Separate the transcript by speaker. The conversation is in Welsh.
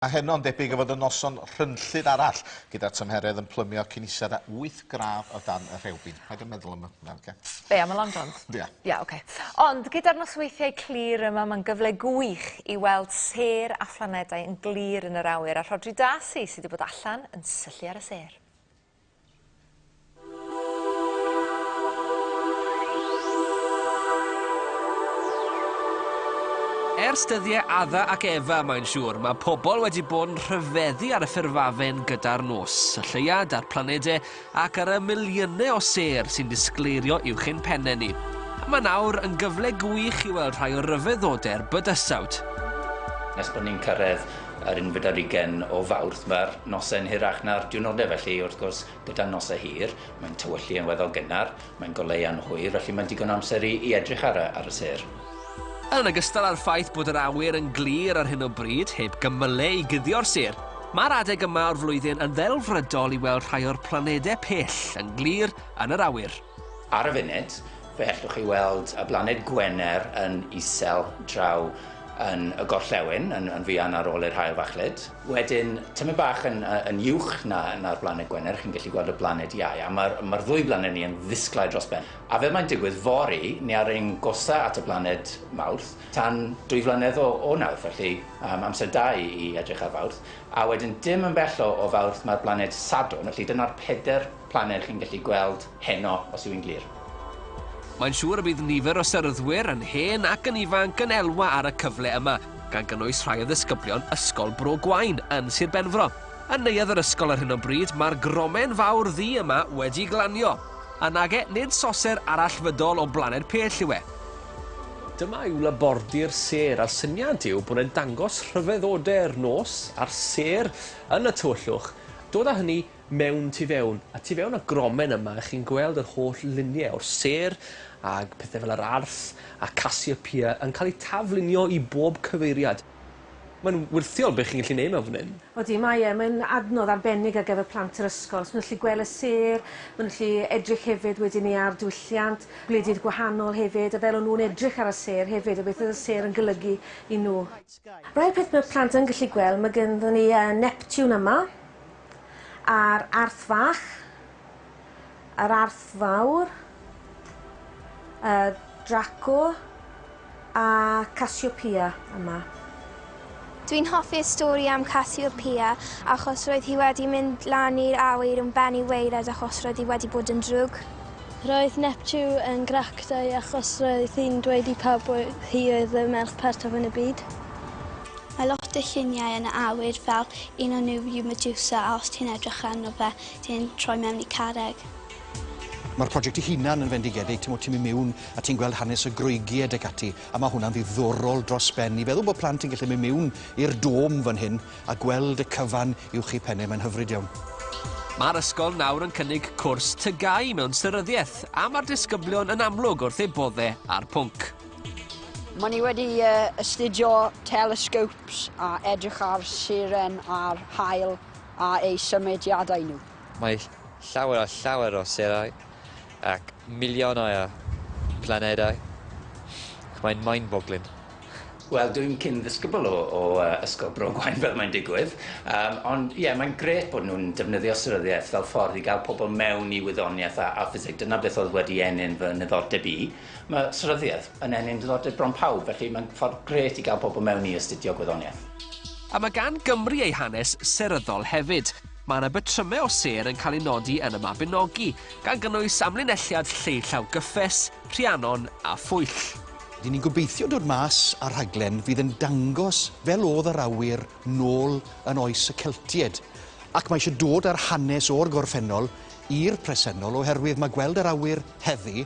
Speaker 1: A heno'n debyg y fod y noson rhynllyd arall, gyda'r tymheredd yn plymio cyn ised â wyth gradd o dan y rhewbyn. Paid a meddwl am hwnna, oce? Be, am y Long Johns? Ia. Ia, oce. Ond gyda'r nosweithiau clir yma, mae'n gyfle gwych i weld sêr a phlanedau yn glir yn yr awyr, a Rhodri Darcy, sy' 'di bod allan yn syllu ar y sêr. Ers dyddiau Adda ac Efa, mae'n siŵr, mae pobl wedi bod yn rhyfeddu ar y ffurfafen gyda'r nos, y lleuad a'r planedau ac ar y miliynau o sêr sy'n disgleirio uwch ein pennau ni. A mae nawr yn gyfle gwych i weld rhai o ryfeddodau'r bydysawd. Nes bod ni'n cyrraedd Yr unfed ar ugen o Fawrth, mae'r noson hirach na'r diwrnodau, felly wrth gwrs gyda noson hir, mae'n tywyllu yn weddol gynnar, mae'n goleuo'n hwyr, felly mae'n digon o amser i i edrych ar y ar y sêr. Yn ogystal â'r ffaith bod yr awyr yn glir ar hyn o bryd, heb gymylau i guddio'r sêr, mae'r adeg yma o'r flwyddyn yn ddelfrydol i weld rhai o'r planedau pell yn glir yn yr awyr. Ar y funud, fe hellwch chi weld y blaned Gwener yn isel draw yn y gorllewin, yn, yn fuan ar ôl i'r haul fachlud. Wedyn, tymed bach yn, yn uwch na, na'r blaned Gwener, chi'n gallu gweld y blaned Iau, a mae'r ma ddwy blaned ni yn ddisglair dros ben. A fel mae'n digwydd, fory, ni ar ein gorsaf at y blaned Mawrth tan dwy flynedd o, o nawr, felly um, amser da i, i edrych ar Fawrth. A wedyn, dim yn bell o, o Fawrth, mae'r blaned Sadwrn, felly dyna'r peder Planed chi'n gallu gweld heno os yw hi'n glir. Mae'n siŵr y bydd nifer o seryddwyr, yn hen ac yn ifanc, yn elwa ar y cyfle yma, gan gynnwys rhai o ddisgyblion Ysgol Bro Gwaun yn Sir Benfro. Yn neuadd yr ysgol ar hyn o bryd, mae'r gromen fawr ddu yma wedi glanio. A nage, nid soser arallfydol o blaned pell yw e. Dyma yw labordy'r sêr, a'r syniad yw bod e'n dangos rhyfeddodau'r nos a'r sêr yn y tywyllwch, dod â hynny mewn tu fewn, a tu fewn y gromen yma ych chi'n gweld yr holl lunie o'r sêr ag pethe fel yr arth a Cassiopeia yn cael eu taflunio i bob cyfeiriad. Mae'n wyrthiol be chi'n gallu neud mewn fan hyn. Odi, mae e, mae'n adnodd arbennig ar gyfer plant yr ysgol, os ma' nhw'n gallu gwel' y sêr, ma' nhw'n gallu edrych hefyd wedyn 'ny ar diwylliant gwledydd gwahanol hefyd, a fel o'n nhw'n edrych ar y sêr hefyd, a beth oedd y sêr yn golygu i nhw. Rhai o'r peth ma' plant yn gallu gwel', ma' gynddon ni yy Neptune yma, A'r Arth Fach. Yr Arth Fawr. Y Draco. A Cassiopea yma. Dwi'n hoffi'r stori am Cassiopea achos roedd hi wedi mynd lan i'r awyr yn ben i waered achos roedd hi wedi bod yn drwg. Roedd Neptu yn grac dau achos roedd hi'n dweud i pawb oedd hi oedd y merch pertaf yn y byd. Mae lot o lluniau yn y awyr fel un o nhw yw Medusa a os ti'n edrych arno fe ti'n troi mewn i carreg. Mae'r project ei hunan yn fendigedig, ti'n mynd mewn a ti'n gweld hanes y Groegiaid ac ati, a mae hwnna'n ddiddorol dros ben. I feddwl bod plant yn gallu mynd mewn i'r dom fan hyn a gweld y cyfan uwch eu pennau, mae'n hyfryd iawn. Mae'r ysgol nawr yn cynnig cwrs tygau mewn seryddiaeth a mae'r disgyblion yn amlwg wrth eu bodde a'r pwnc. Mae ni wedi uh, astudio telescopes a edrych ar siren a'r hael a ei symudiadau nhw. Mae llawer a llawer o serau ac miliynau o planedau. Mae'n mind-boggling. Wel, dwi'n cyn ddisgybl o, o uh, Ysgol Bro Gwain fel mae'n digwydd, um, ond ie, yeah, mae'n gret bod nhw'n defnyddio seryddiaeth fel ffordd i gael pobl mewn i wyddoniaeth a, a ffiseg. Dyna beth oedd wedi enyn fy niddordeb i. Mae seryddiaeth yn ennyn diddordeb bron pawb, felly mae'n ffordd grêt i gael pobl mewn i astudio gwyddoniaeth. A mae gan Gymru ei hanes seryddol hefyd. Mae yna batrymau o sêr yn cael eu nodi yn y Mabinogi, gan gynnwys amlinelliad Lleu Llaw Gyffes, Rhiannon a Phwyll. Ry'n ni'n gobeithio dod mas â rhaglen fydd yn dangos fel oedd yr awyr nôl yn oes y Celtiaid, ac mae eisiau dod â'r hanes o'r gorffennol i'r presennol oherwydd mae gweld yr awyr heddi